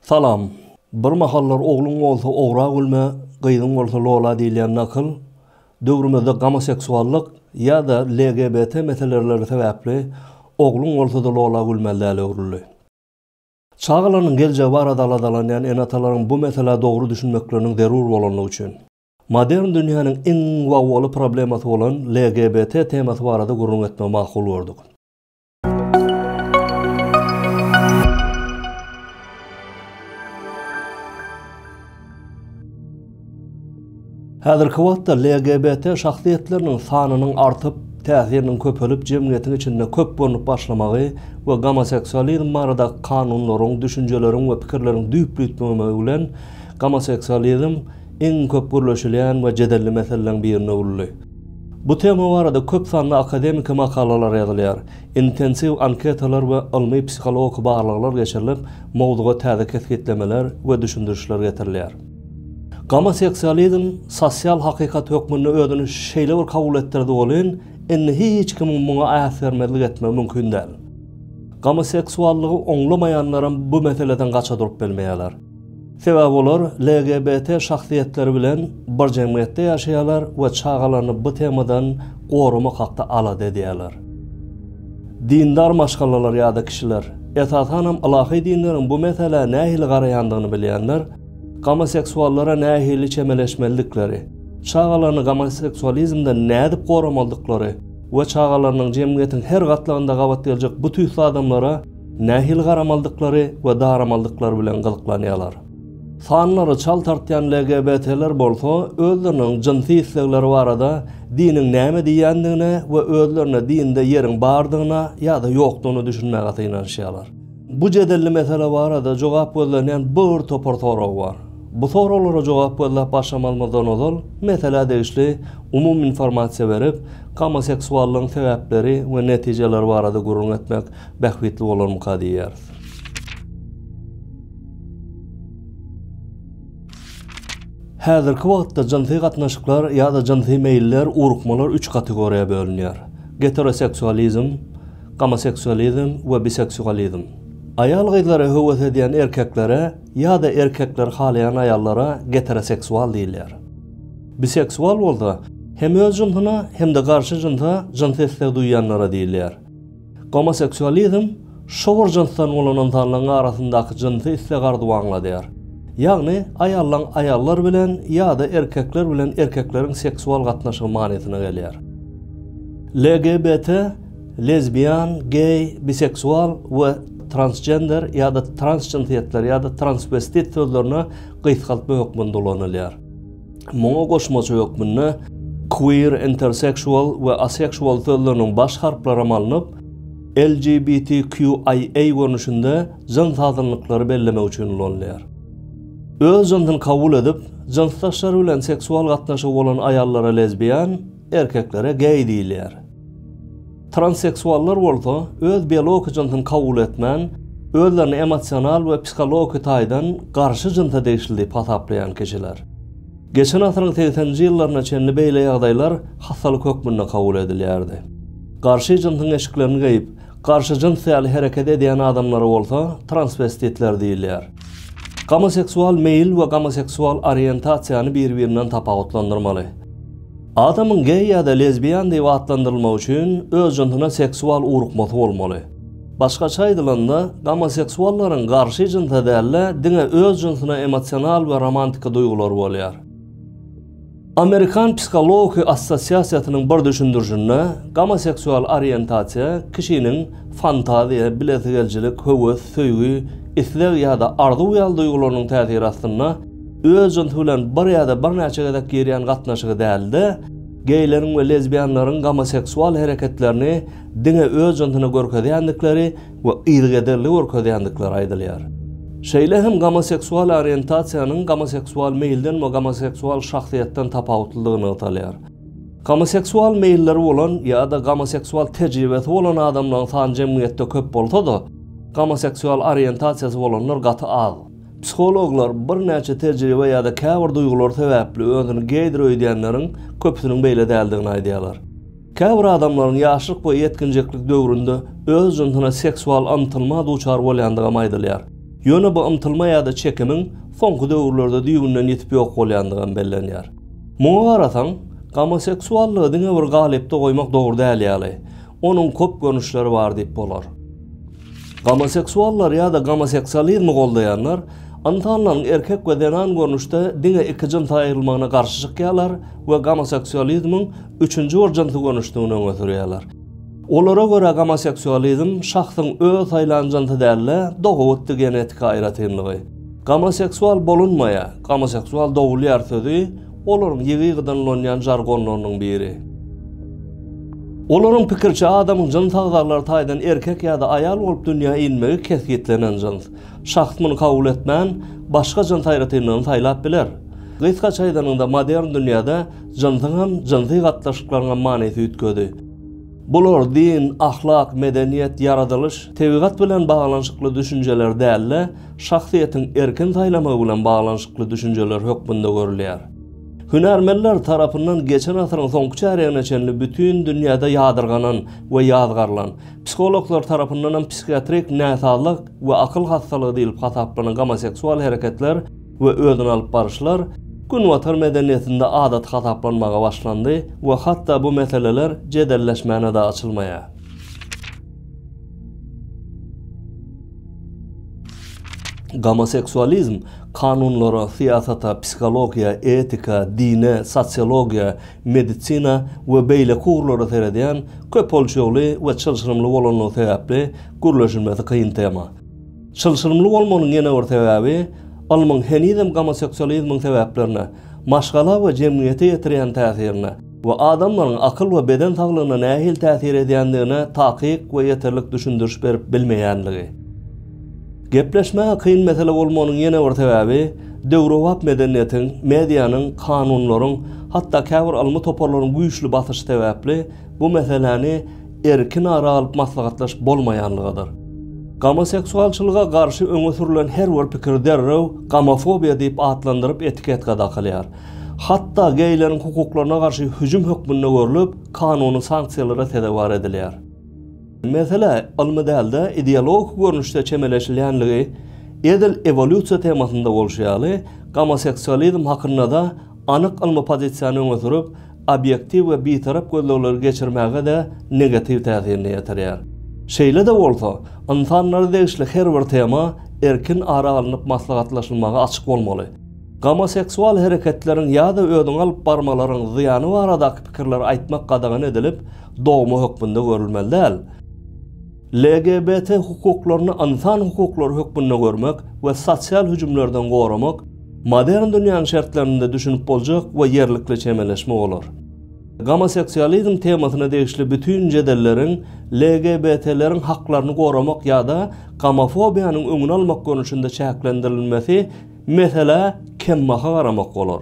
Salam. Bir mahallar ogluň bolsa ogra gülme, gyzyň bolsa lola diýilýän nakyl, döwrümizde gomoseksuallyk ýa-da LGBT meselereleri sebäpli ogluň bolsada lola gülmeli däle öwrüldi. Çagalarynyň geljegi barada aladalanýan ene-atalaryň bu meselä dogry düşünmekleriniň zerur bolandygy üçin. Modern dünýäniň iň wawaly problemasy bolan LGBT temasy barada gürrüň etmegi makul gördük. Häzirki wagtda LGBT şahsyýetleriniň sanynyň artyp, täsiriniň köpelip, jemgyýetiň içinde köp görnüp başlamagy we gomoseksualizm baradaky kanunlaryň, düşünjeleriň we pikirleriň düýpli üýtmemegi bilen, gomoseksualizm iň köp gürleşilýän we jedelli meseleleriň birine öwrüldi. Bu tema barada köp sanly akademiki makalalar ýazylýar, intensiw anketalar we ylmy psihologiki barlaglar geçirilip, mowzuga täze kesgitlemeler we düşündirişler getirilýär. Gomoseksualizm sosial hakykat hökmünde özüni şeýle bir kabul etdirdi welin, indi hiç kimiň muňa äsgermezlik etmegi mümkin däl. Gomoseksuallygy oňlamaýanlaram bu meseleden gaça durup bilmeýärler. Sebäbi olar LGBT şahsyýetleri bilen bir jemgyýetde ýaşaýarlar we çagalaryny bu temadan goramak hakda alada edýärler. Dindar maşgalalar ýa-da kişiler, esasanam ylahy dinleriň bu meselä nähili garaýandygyny bilýänler, gomoseksuallara nähili çemeleşmelidikleri, çagalaryny gomoseksualizmden nädip goramalydyklary we çagalarynyň jemgyýetiň her gatlagynda gabat geljek bu tüýsli adamlara Nähili garamalydyklary we daramalydyklary bilen gyzyklanýarlar. Sanlary çal tartýan LGBT-ler bolsa özleriniň jynsy islegleri barada diniň näme diýýändigine we özlerine dinde ýeriň bardygyna ýa-da ýokdugyna düşünmäge synanyşýarlar. Bu jedelli mesele barada jogap gözlenýän bir topar sorag bar. Bu soraglara jogap gözläp başlamalymyzdan ozal meselä degişli umumy informasiýa berip, gomoseksuallygyň sebäpleri we netijeleri barada gürrüň etmek Bähbitli bolarmyka diýýäris. Häzirki wagtda jynsy gatnaşyklar ýa-da jynsy meýiller, ugrukmalar üç kategoriýa bölünýär, geteroseksualizm, gomoseksualizm we biseksualizm. Aýal-gyzlara höwes edýän erkeklere ýa-da erkekler halaýan aýallara geteroseksual diýilýär. Biseksual bolsa, hem öz jynsyna, hem-de garşy jynsa jynsy isleg duýýanlara diýilýär. Gomoseksualizm şowur jynsdan bolan ynsanlaryň arasyndaky jynsy isleg-arzuwy aňladýar. Ýagny, aýallaň aýallar bilen ýa-da erkekler bilen erkekleriň seksual gatnaşygy manysyna gelýär. LGBT, lezbian, geý, biseksual we transgender ýa-da transjynsýetler ýa-da transwestit sözlerine gysgaltma hökmünde ulanylýar. Muňa goşmaça hökmünde queer, interseksual we aseksual sözleriniň baş harplaram alnyp, LGBTQIA görnüşinde jyns azynlyklary bellemek üçin ulanylýar. Öz jynsyny kabul edip, jynsdaşlary bilen seksual gatnaşygy bolan aýallara lezbian, Erkeklere geý diýilýär. Transseksuallar bolsa öz biologiki jynsyny kabul etmän, özlerini emosional we psihologiki taýdan garşy jynsa degişli diýip hasaplaýan kişiler. Geçen asyryň segseninji ýyllaryna çenli beýle ýagdaýlar hassalyk hökmünde kabul edilýärdi. Garşy jynsyň eşiklerini geýip, garşy jyns ýaly hereket edýän adamlara bolsa transwestitler diýilýär. Gomoseksual meýil we gomoseksual oriýentasiýany bir-birinden tapawutlandyrmaly. Adamyň geý ýa-da lezbiýan diýip atlandyrylmagy üçin öz jynsuna seksual ugrukmasy bolmaly. Başgaça aýdylanda, gomoseksuallaryň garşy jynsa däl-de, diňe öz jynsuna emosional we romantiki duýgulary bolýar. Amerikan psihology assosiasiýasynyň bir düşündirişinde, gomoseksual oriýentasiýa kişiniň fantaziýa, bilesigelijilik, höwes, söýgi, isleg ýa-da arzuw ýaly duýgularynyň täsiri astynda, Öz jynsy bilen bir ýa-da birnäçe gezek girýän gatnaşygy däl-de, geýleriň we lezbiýanlaryň gomoseksual hereketlerini diňe öz jynsyna görkezýändikleri we yzygiderli görkezýändikleri aýdylýar. Şeýle hem gomoseksual oriýentasiýanyň gomoseksual meýilden we gomoseksual şahsyýetden tapawutlydygy nygtalýar. Gomoseksual meýilleri bolan ýa-da gomoseksual tejribesi bolan adamlaryň sany jemgyýetde köp bolsa-da, gomoseksual oriýentasiýasy bolanlar gaty az. Psihologlar birnäçe tejribe ýa-da käbir duýgular sebäpli özüni geýdir öýdýänleriň köpüsiniň beýle däldigini aýdýarlar. Käbir adamlaryň ýaşlyk we ýetginjeklik döwründe öz jynsyna seksual ymtylma duçar bolýandygam aýdylýar. Ýöne bu ymtylma ýa-da çekimiň soňky döwürlerde düýbünden ýitip ýok bolýandygam bellenýär. Muňa garasaň, gomoseksuallygy diňe bir galypda goýmak dogry däl ýaly, onuň köp görnüşleri bar diýip bolar. Gomoseksuallar ýa-da gomoseksualizmi goldaýanlar ynsanlaryň erkek we zenan görnüşde diňe iki jyns aýrylmagyna garşy çykýarlar we gomoseksualizmiň üçünji bir jynsy görnüşdigini öňe sürýärler. Olara görä gomoseksualizm şahsyň öz saýlan jynsy däl-de, dogabitdi genetiki aýratynlygy. Gomoseksual bolunmaýar, gomoseksual dogulýar sözi Olaryň ýygy-ýygydan ulanýan žargonlarynyň biri. Olaryň pikiriçe, adamyň jyns agzalary taýdan erkek ýa-da aýal bolup dünýä inmegi kesgitlenen jyns. Şahs muny kabul etmän, başga jyns aýratynlygyny saýlap biler. Gysgaça aýdanyňda, modern dünýäde jynsyň hem, jynsy gatnaşyklaryň hem manysy üýtgedi. Bular din, ahlak, medeniýet, ýaradylyş, tebigat bilen baglanyşykly düşünjeler däl-de, şahsyýetiň erkin saýlamagy bilen baglanyşykly düşünjeler hökmünde görülýär. Hünärmenler tarapyndan geçen asyryň soňky çärýegine çenli bütin dünýäde ýadyrganan we ýazgarylan, psihologlar tarapyndan hem psihiatrik näsazlyk we akyl hassalygy diýlip hasaplanan gomoseksual hereketler we özüni alyp baryşlar Günbatar medeniýetinde adaty hasaplanmaga başlandy we hatda bu meseleler jedelleşmäne-de açylmaýar. Gomoseksualizm kanunlara, syýasata, psihologiýa, etika, dine, sosiologiýa, medisina we beýleki ugurlara seredýän köp ölçegli we çylşyrymly bolanlygy sebäpli gürleşilmesi kyn tema. Çylşyrymly bolmagynyň ýene bir sebäbi, ylmyň henizem gomoseksualizmiň sebäplerine, maşgala we jemgyýete ýetirýän täsirine, we adamlaryň akyl we beden saglygyna nähili täsir edýändigine takyk we ýeterlik düşündiriş berip bilmeýänligi. Gepleşmäge kyn mesele bolmagynyň ýene bir sebäbi döwrebap medeniýetiň, medianyň, kanunlaryň, hatda käbir ylmy toparlaryň güýçli basyşy sebäpli bu meseläni erkin ara alyp maslahatlaşyp bolmaýanlygydyr. Gomoseksualçylyga garşy öňe sürlen her bir pikir derrew gomofobiýa diýip atlandyryp etiketka dakylýar. Hatda geýleriň hukuklaryna garşy hüjüm hökmünde görlüp, kanuny sanksiýalara sezewar edilýär. Mesele ylmy däl-de, ideologik görnüşde çemeleşilýänligi edil ewolýusiýa temasynda bolşy ýaly, gomoseksualizm hakynda-da anyk ylmy pozisiýany öňe sürüp, obýektiw we bitarap gözlegleri geçirmäge-de negatiw täsirini ýetirýär. Şeýle-de bolsa, ynsanlara degişli her bir tema erkin ara alnyp maslahatlaşylmaga açyk bolmaly. Gomoseksual hereketleriň ýa-da özüňi alyp barmalaryň zyýany baradaky pikirleri aýtmak gadagan edilip, dogma hökmünde görülmeli däl. LGBT hukuklaryny ynsan hukuklary hökmünde görmek we sosial hüjümlerden goramak modern dünýäniň şertlerinde düşünip boljak we ýerlikli çemeleşme bolar. Gomoseksualizm temasyna degişli bütin jedelleriň LGBT-leriň haklaryny goramak ýa-da gomofobiýanyň öňüni almak görnüşinde çäklendirilmesi Meselä kembaha garamak bolar.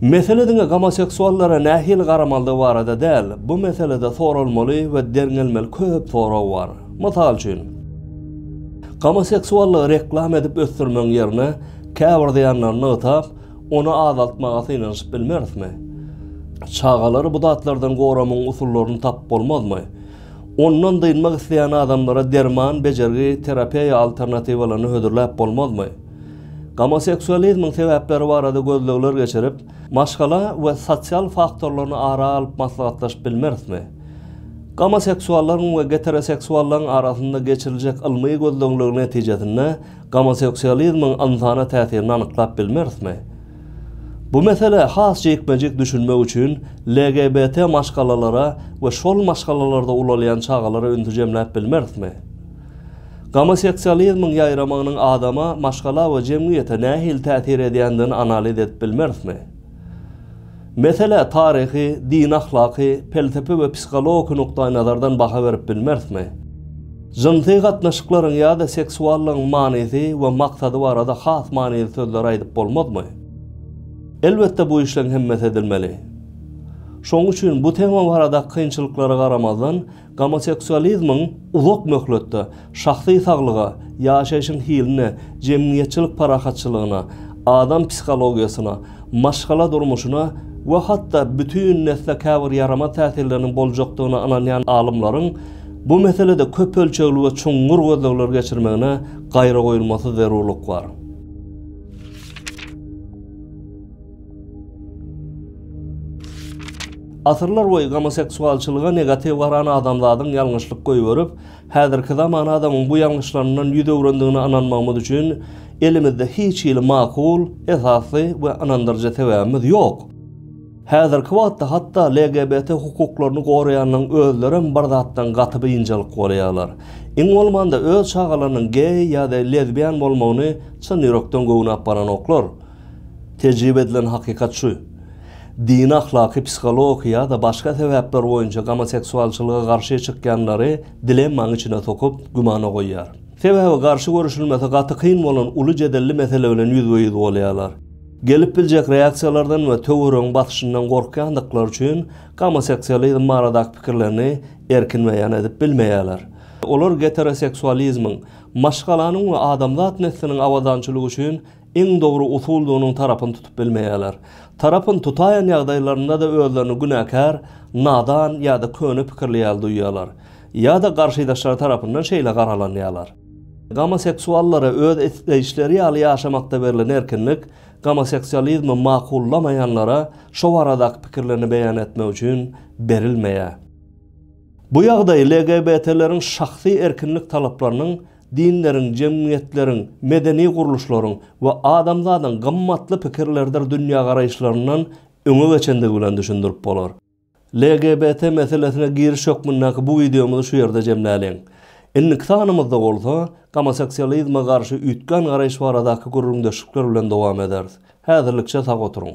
Mesele diňe gomoseksuallara nähili garamalydygy barada däl, bu meselede soralmaly we derňelmeli köp sorag bar. Mysal üçin, gomoseksuallygy reklama edip ösdürmegiň ýerine, käbir zyýanlary nygtap, ony azaltmaga synanyşyp bilmerismi? Çagalary bu zatlardan goramagyň usullaryny tapyp bolmazmy? Ondan dynmak isleýän adamlara derman, bejergi, terapeýa alternatiwalaryny hödürläp bolmazmy? Gomoseksualizmiň sebäpleri barada gözlegler geçirip, maşgala we sosial faktorlaryny ara alyp maslahatlaşyp bilmerismi? Gomoseksuallaryň we geteroseksuallaryň arasynda geçiriljek ylmy gözlegleriň netijesinde gomoseksualizmiň ynsana täsirini anyklap bilmerismi? Bu meselä has jikme-jik düşünmek üçin LGBT maşgalalara we şol maşgalalarda ulalýan çagalara ünsi jemläp bilmerismi? Gomoseksualizmiň ýaýramagynyň adama, maşgala we jemgyýete nähili täsir edýändigini analiz edip bilmerismi? Meselä taryhy, dini-ahlaky, pelsepe we psihologiki nukdaýnazardan baha berip bilmerismi? Jynsy gatnaşyklaryň ýa-da seksuallygyň manysy we maksady barada has manyly sözleri aýdyp bolmazmy? Elbetde bu işleň hemmesi edilmeli. Şoň üçin bu tema barada kynçylyklara garamazdan, Gomoseksualizmiň uzak möhletde şahsy saglyga, ýaşaýşyň hiline, jemgyýetçilik parahatçylygyna, adam psihologiýasyna, maşgala durmuşyna we hatda bütin nesle käbir ýaramaz täsirleriniň boljakdygyna ynanýan alymlaryň bu meselede köp ölçegli we çuňňur gözlegler geçirmegine gaýragoýulmasyz zerurlyk bar. Asyrlar boýy gomoseksualçylyga negatiw garan adamzadyň ýalňyşlyk goýberip, häzirki zaman adamyň bu ýalňyşlaryndan ýüz öwrendigine ynanmagymyz üçin elimizde hiç hili makul, esasly we ynandyryjy sebäbimiz ýok. Häzirki wagtda hatda LGBT hukuklaryny goraýanlaryň özlerem bir zatdan gaty biynjalyk bolýarlar. Iň bolmanda öz çagalarynyň geý ýa-da lezbian bolmagyny çyn ýürekden göwne apbaranoklar. Tejribe edilen hakykat şu, dini, ahlaky, psihologiki ýa-da başga sebäpler boýunça gomoseksualçylyga garşy çykýanlary dilemmaň içine sokup, gümana goýýar. Sebäbi garşy görüşilmesi gaty kyn bolan uly jedelli mesele bilen ýüzbe-ýüz bolýarlar. Gelip biljek reaksiýalardan we töweregiň basyşyndan gorkýandyklary üçin gomoseksualizm baradaky pikirlerini erkin beýan edip bilmeýärler. Olar geteroseksualizmiň, maşgalanyň we adamzat nesliniň abadançylygy üçin iň dogry usuldygynyň tarapyny tutup bilmeýärler. Tarapyny tutaýan ýagdaýlarynda-da özlerini günäkär, nadan ýa-da köne pikirli ýaly duýýarlar. Ýa-da garşydaşlary tarapyndan şeýle garalanýarlar. Gomoseksuallara öz isleýişleri ýaly ýaşamakda berlen erkinlik, gomoseksualizmi makullamaýanlara şo baradaky pikirlerini beýan etmek üçin berilmeýär. Bu ýagdaý LGBT-leriň şahsy erkinlik talaplarynyň Dinleriň, jemgyýetleriň, medeni gurluşlaryň we adamzadyň gymmatly pikirlerdir dünýägaraýyşlaryndan öňe geçendigi bilen düşündirip bolar. LGBT meselesine giriş hökmündäki bu wideomyzy şu ýerde jemläliň. Indiki sanymyzda bolsa, gomoseksualizme garşy üýtgän garaýyş baradaky gürrüňdeşlikler bilen dowam ederis. Häzirlikçe sag oturyň!